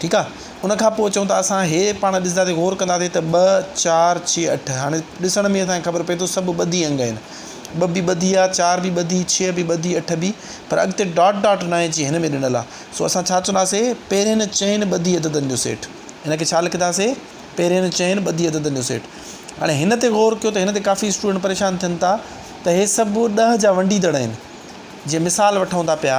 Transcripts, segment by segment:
ٺيڪ آ ان کان پوء چئون ٿا اسان هي پاڻ ڏسنداسين غور ڪنداسين ته ٻه چار ڇهه اٺ هاڻي ڏسڻ ۾ اسانکي خبر پئي ٿو سڀ ٻڌي انگ آهن ٻه به ٻڌي آ چار به ٻڌي ڇهه به ٻڌي اٺ به پر اڳتي ڊاٽ ڊاٽ نه آهي جيئن هن ۾ ڏنل آ سو اسان ڇا چونداسي پهرين چئن ٻڌي عددن جو سيٽ هن کي ڇا لکنداسي پهرين چئن ٻڌي عددن جو سيٽ هاڻي هن تي غور ڪيو ته هن تي ڪافي اسٽوڊنٽ پريشان ٿين ٿا ته هي سڀ ڏهه جا ونڊيدڙ آهن جي مثال وٺون ٿا پيا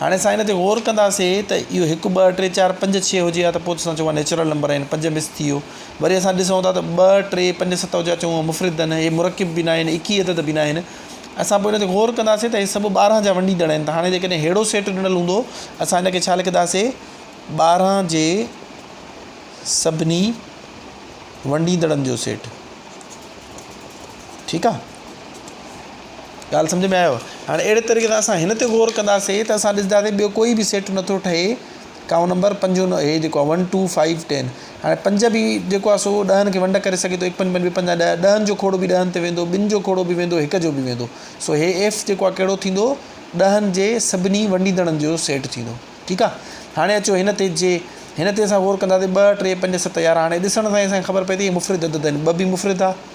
هاڻي اسان ان تي غور ڪنداسي ته اهو هڪ ٻه ٽي چار پنج ڇهه هجي ها ته پوء اسان چئون ها نيچرل نمبر آهن پنج مس ٿي ويو وري اسان ڏسون ٿا ته ٻه ٽي پنج ست هجي ها چئون ها مفرد آهن هي مرڪب به ناهن اڪيهه عدد به ناهن اسان پوء ان تي غور ڪنداسي ته هي سڀ ٻارهن جا ونڊيندڙ آهن ته هاڻي جيڪڏهن ههڙو سيٽ ڏنل هوندو اسان ان کي ڇا لکنداسي ٻارهن جي سڀني ونڊيندڙن جو سيٽ ٺيڪ آهي ڳالهه سمجهه ۾ آيو هاڻي اهڙي طريقي سان اسان هن تي غور ڪنداسين ته اسان ڏسنداسين ٻيو ڪوئي به سيٽ نٿو ٺهي ڪائونٽ نمبر پنج هو هي جيڪو ون ٽو فائيو ٽين هاڻي پنج به جيڪو آهي سو ڏهن کي ونڊ ڪري سگهي ٿو هڪ پنج پنج ٻي پنج ڏهه ڏهن جو کوڙو به ڏهن تي ويندو ٻن جو کوڙو به ويندو هڪ جو به ويندو سو هي ايف جيڪو آهي ڪهڙو ٿيندو ڏهن جي سڀني ونڊيندڙن جو سيٽ ٿيندو ٺيڪ آهي هاڻي اچو هن تي جي هن تي اسان غور ڪنداسين ٻه ٽي پنج ست يارهن هاڻي ڏسڻ سان اسان کي خبر پئي ٿي هي مفرد عدد آهن ٻه به مفرد آهي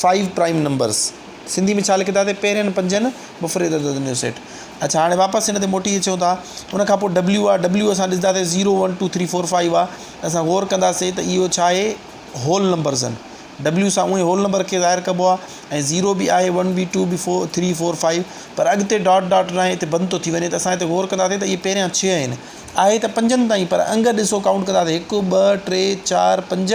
فائيو پرائيم نمبرس سنڌي ۾ ڇا لکندا تي پهرين پنجن مفرد عددن جو سيٽ اڇا هاڻي واپس هن تي موٽي اچون ٿا ان کان پوء ڊبليو آ ڊبليو اسان ڏسندا تي zero one two three four five آ اسان غور ڪنداسي ته اهو ڇا آهي هول نمبرز آهن ڊبليو سان اونهي هول نمبر کي ظاهر ڪبو آ ۽ زيرو به آهي ون به ٽو به فور ٿري فور فائيو پر اڳتي ڊاٽ ڊاٽ ناهي هتي بند ٿو ٿي وڃي ته اسان هتي غور ڪنداسي ته اهي پهريان ڇهه آهن آهي ته پنجن تائين پر انگ ڏسو ڪائونٽ ڪنداسي هڪ ٻه ٽي چار پنج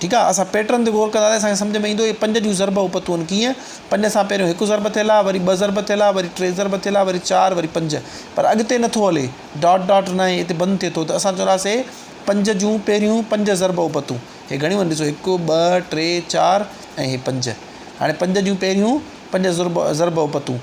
ٺيڪ آ اسان پيٽرن تي غور ڪنداسين اسان کي سمجھ ۾ ايندو اهي پنج جون ضرب اوپتون ڪيئن پنج سان پهريون هڪ ضرب ٿيل آ وري ٻه ضرب ٿيل آ وري ٽي ضرب ٿيل آ وري چار وري پنج پر اڳتي نٿو هلي ڊاٽ ڊاٽ ناهي هتي بند ٿئي ٿو ته اسان چونداسي پنج جون پهريون پنج ضرب اوپتون هي گھڻيون آهن ڏسو هڪ ٻه ٽي چار ۽ هي پنج هاڻي پنج جون پهريون پنج ضرب ضرب اوپتون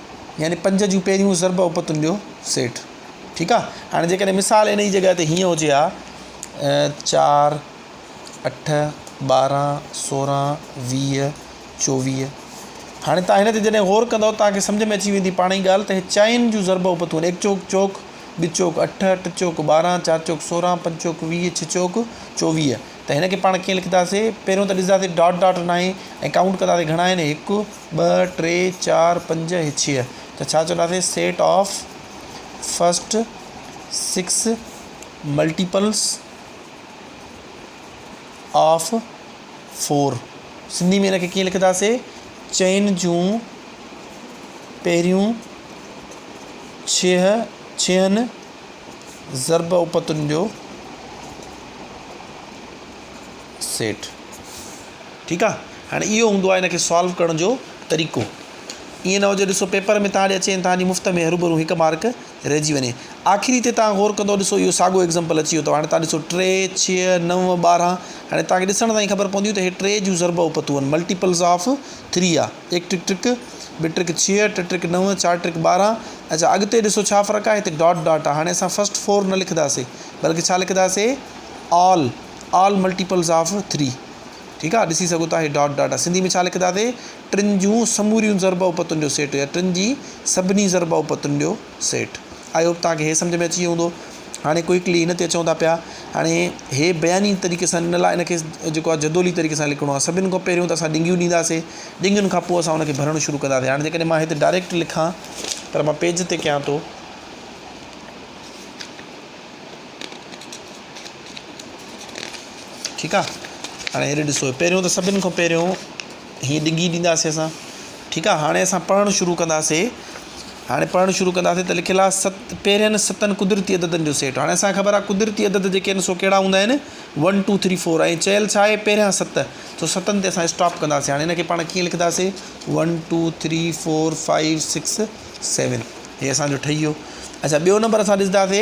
يعني پنج جون پهريون ضرب اوپتن جو سيٽ ٺيڪ آ هاڻي جيڪڏهن مثال ان جي جڳهه تي هيئن هجي ها چار اٺ ٻارهن سورهن ويهه چوويهه هاڻي تان هن تي جڏهن غور ڪندو تان کي سمجهه ۾ اچي ويندي پاڻ ئي ڳالهه ته هي چائن جون ضرب اوپتون ايڪ چوڪ چوڪ ٻي چوڪ اٺ ٽي چوڪ ٻارهن چار چوڪ سورهن پنج چوڪ ويهه ڇهه چوڪ چوويهه ته هن کي پاڻ ڪيئن لکنداسي پهريون ته ڏسنداسي ڊاٽ ڊاٽ ناهي ۽ ڪائونٽ ڪنداسي گهڻا آهن هڪ ٻه، ٽي، چار، پنج ۽ ڇهه ته ڇا چونداسين set of first six multiples of four Sindhi ۾ ان کي ڪيئن لکنداسين چئن جون پهريون ڇهن ضرب اپتن جو سيٽ ٺيڪ آ ھاڻي اھو ھوندو آ ھن کي سالو ڪرڻ جو طريقو ايئن نھ ھجي ڏسو پيپر ۾ تھان ڏي اچي تھان جي مفت ۾ ھروڀرو ھڪ مارڪ رھجي وڃي آخري تي تھان غور ڪندو ڏسو اھو ساڳو ايگزامپل اچي ويو تھ ھاڻي تھان ڏسو ٽي ڇھھ نو ٻارھن ھاڻي تھان کي ڏسڻ سان ئي خبر پونديون تھ ھي ٽي جون ضرب او پتو آھن ملٽيپلز آف تھري آ ايڪ ٽرڪ ٽرڪ ٻھ ٽرڪ ڇھھ ٽھ ٽرڪ نو چار ٽرڪ ٻارھن اچا اڳتي ڏسو ڇا فرق آ ھتي ڊاٽ ڊاٽ آ ھاڻي اسان فرسٽ فور نھ لکنداسي بلڪ ڇا لکنداسي آل آل ملٽيپلز آف ٿري ٺيڪ آ ڏسي سگهو ٿا هي ڊاٽ ڊاٽ آ سنڌي ۾ ڇا لکنداسين ٽن جون سموريون ضرب اوپتن جو سيٽ يا ٽن جي سڀني ضرب اوپتن جو سيٽ آئي هوپ توهان کي هي سمجھ ۾ اچي ويو هوندو هاڻي ڪوئڪلي هن تي اچون ٿا پيا هاڻي هي بياني طريقي سان ان لاء ان کي جيڪو آ جدولي طريقي سان لکڻو آ سڀن کان پهريون ته اسان ڏنگيون ڏينداسين ڏنگين کان پوء اسان ان کي ڀرڻ شروع ڪنداسين هاڻي جيڪڏهن مان هتي ڊائريڪٽ لکان پر مان پيج تي ڪيان ٿو ٺيڪ آ هاڻي هيڏي ڏسو پهريون ته سڀني کان پهريون هي ڊگهي ڏينداسي اسان ٺيڪ آ هاڻي اسان پڙهڻ شروع ڪنداسي هاڻي پڙهڻ شروع ڪنداسي ته لکيل آهي ست پهرين ستن قدرتي عددن جو سيٽ هاڻي اسانکي خبر آ قدرتي عدد جيڪي آهن سو ڪهڙا هوندا آهن ون ٽو ٿري فور ۽ چيل ڇا آهي پهريان ست سو ستن تي اسان اسٽاپ ڪنداسي هاڻي هنکي پاڻ ڪيئن لکنداسي one two three four five six seven هي اسانجو ٺهي ويو اچا ٻيو نمبر اسان ڏسنداسي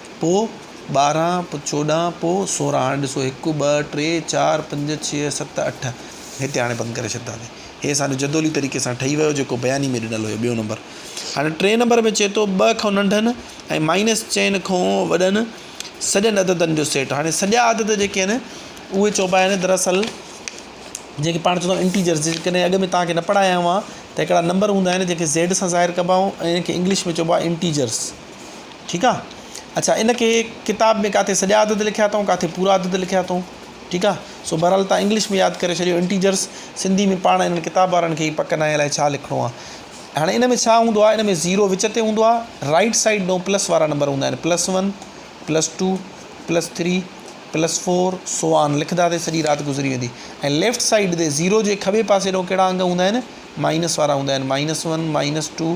پوء ٻارهن، پوء چوڏهن، پوء سورهن. هاڻي ڏسو، هڪ، ٻه، ٽي، چار، پنج، ڇهه، ست، اٺ. هتي هاڻي بند ڪري ڇڏينداسين. هي اسان جو جدولي طريقي سان ٺهي ويو، جيڪو بياني ۾ ڏنل هيو، ٻيون نمبر. هاڻي ٽئين نمبر ۾ چئي ٿو، ٻه کان ننڍن ۽ مائنس چئن کان وڏن سڄن عددن جو سيٽ. هاڻي سڄا عدد جيڪي آهن، اهي چئبا آهن دراصل جنهن کي پاڻ چئبو آهي انٽيجرز. جيڪڏهن اڳ ۾ توهان کي نه پڙهايا هئا ته هڪڙا نمبر هوندا آهن، جنهن کي زيڊ سان ظاهر ڪبا آهن ۽ انهن کي انگلش ۾ چئبو آهي انٽيجرز. ٺيڪ آ اڇا ان کي ڪتاب ۾ ڪاٿي سڄا عدد لکيا اٿئون ڪاٿي پورا عدد لکيا اٿئون ٺيڪ آ سو بھرحال تھان انگلش ۾ ياد ڪري ڇڏيو انٽيجرس سنڌي ۾ پاڻ انھن ڪتاب وارن کي ئي پڪ ناھي الائي ڇا لکڻو آ ھاڻي ان ۾ ڇا ھوندو آ ان ۾ زيرو وچ تي ھوندو آ رائٽ سائيڊ ڏون پلس وارا نمبر ھوندا آھن plus one plus two plus three plus four سو آن لکدا تي سڄي رات گذري ويندي ۽ ليفٽ سائيڊ تي زيرو جي کٻي پاسي ڏون ڪھڙا انگ ھوندا آھن مائنس وارا ھوندا آھن مائنس ون مائنس ٽو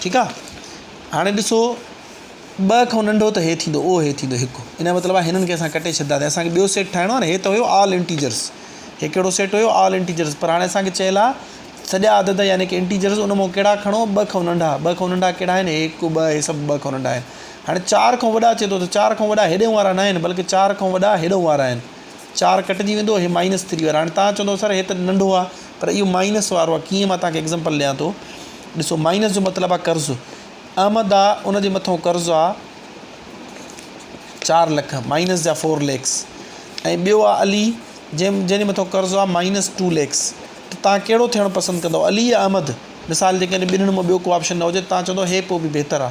ٺيڪ آ هاڻي ڏسو ٻه کان ننڊو ته هي ٿيندو اهو هي ٿيندو هڪ ان جو مطلب آ هنن کي اسان ڪٽي ڇڏيندا ته اسان کي ٻيو سيٽ ٺاهڻو آ نه هي ته هيو آل انٽيجرس هي ڪهڙو سيٽ هيو آل انٽيجرس پر هاڻي اسان کي چيل آ سڄا عدد يعني ڪي انٽيجرس ان مون ڪهڙا کڻو ٻه کان ننڊا ٻه کان ننڊا ڪهڙا آهن هڪ ٻه هي سڀ ٻه کان ننڊا آهن هاڻي چار کان وڏا چي ٿو ته چار کان وڏا هيڏي وارا ناهن بلڪه چار کان وڏا هيڏو وارا آهن چار ڪٽجي ويندو هي مائنس ٿري وارو هاڻي تهان چوندو سر هي ته ننڍو آ پر اهو مائنس وارو آ ڪيئن مان تهان کي ايگزامپل ڏيان ٿو ڏسو مائنس جو مطلب آ قرض احمد آ ان جي مٿو قرض آ چار لک مائنس جا فور ليکس ۽ ٻيو آ علي جنهن جنهن جي مٿو قرض آ مائنس ٽو ليکس ته تهان ڪهڙو ٿيڻ پسند ڪندو علي يا احمد مثال جي ڪري ٻنهن مون ٻيو ڪو آپشن نه هجي تهان چوندو هي پوء به بهتر آ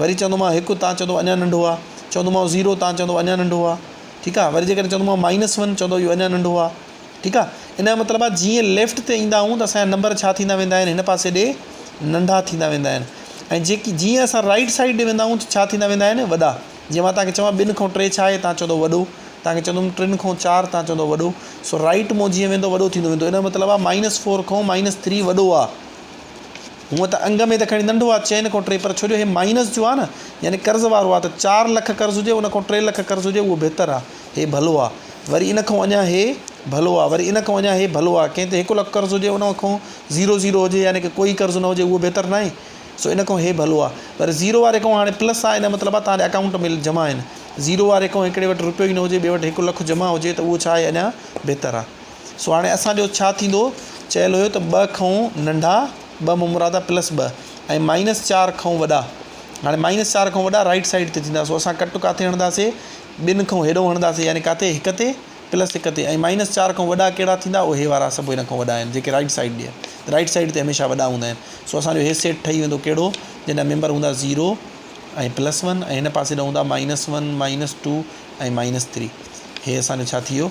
وري چوندومانء هڪ، تان چوندو اڃا ننڍو آ، چوندومانء زيرو، تان چوندو اڃا ننڍو آ، ٺيڪ آ، وري جيڪڏهن چوندومانء مائنس ون، چوندو اهو اڃا ننڍو آ، ٺيڪ آ، ان جو مطلب آ جيئن ليفٽ تي ايندا آهيون ته اسان جا نمبر ڇا ٿيندا ويندا آهن هن پاسي ڏي ننڍا ٿيندا ويندا آهن ۽ جيڪي جيئن اسان رائيٽ سائيڊ ڏي ويندا آهيون ته ڇا ٿيندا ويندا آهن وڏا، جيئن مان توهان کي چوان ٻن کان ٽي ڇا آهي تان چوندو وڏو، توهان کي چوندوم ٽن کان چار تان چوندو وڏو، سو رائيٽ مون جيئن ويندو وڏو ٿيندو ويندو ان جو مطلب آ مائنس فور کان مائنس ٿري وڏو آ. هونء ته انگ ۾ ته کڻي ننڍو آ چئن کان ٽي پر ڇو جو هي مائينس جو آ نه يعني قرض وارو آ ته چار لک قرض هجي ان کان ٽي لک قرض هجي اهو بهتر آ هي ڀلو آ وري ان کان اڃان هي ڀلو آ وري ان کان اڃان هي ڀلو آ ڪنهن تي هڪ لک قرض هجي ان کان زيرو زيرو هجي يعني ڪه ڪوئي قرض نه هجي اهو بهتر ناهي سو ان کان هي ڀلو آ پر زيرو واري کان هاڻي پلس آ ان مطلب آ تهان جي اڪائونٽ ۾ جمع آهن زيرو واري کان هڪڙي وٽ روپيو ئي نه هجي ٻي وٽ هڪ لک جمع هجي ته اهو ڇا آهي اڃان بهتر آ. سو هاڻي اسان جو ڇا ٿيندو؟ چيل هيو ته ٻه کئون ننڍا، ٻه ممرادا پلس ٻه ۽ مائنس چار کئون وڏا. هاڻي مائنس چار کئون وڏا رائيٽ سائيڊ تي ٿيندا، سو اسان ڪٽ ڪاٿي هڻنداسين؟ ٻن کئون هيڏئون هڻنداسين، يعني ڪاٿي؟ هڪ تي پلس هڪ تي ۽ مائنس چار کئون وڏا ڪهڙا ٿيندا؟ اهي وارا سڀ ان کئون وڏا آهن، جيڪي رائيٽ سائيڊ ڏي رائيٽ سائيڊ تي هميشه وڏا هوندا آهن. سو اسان جو هي سيٽ ٺهي ويندو ڪهڙو؟ جنهن جا ميمبر هوندا زيرو ۽ پلس ون ۽ هن پاسي ڏانهن هوندا minus one, minus two ۽ minus three. هي اسان جو ڇا ٿي ويو؟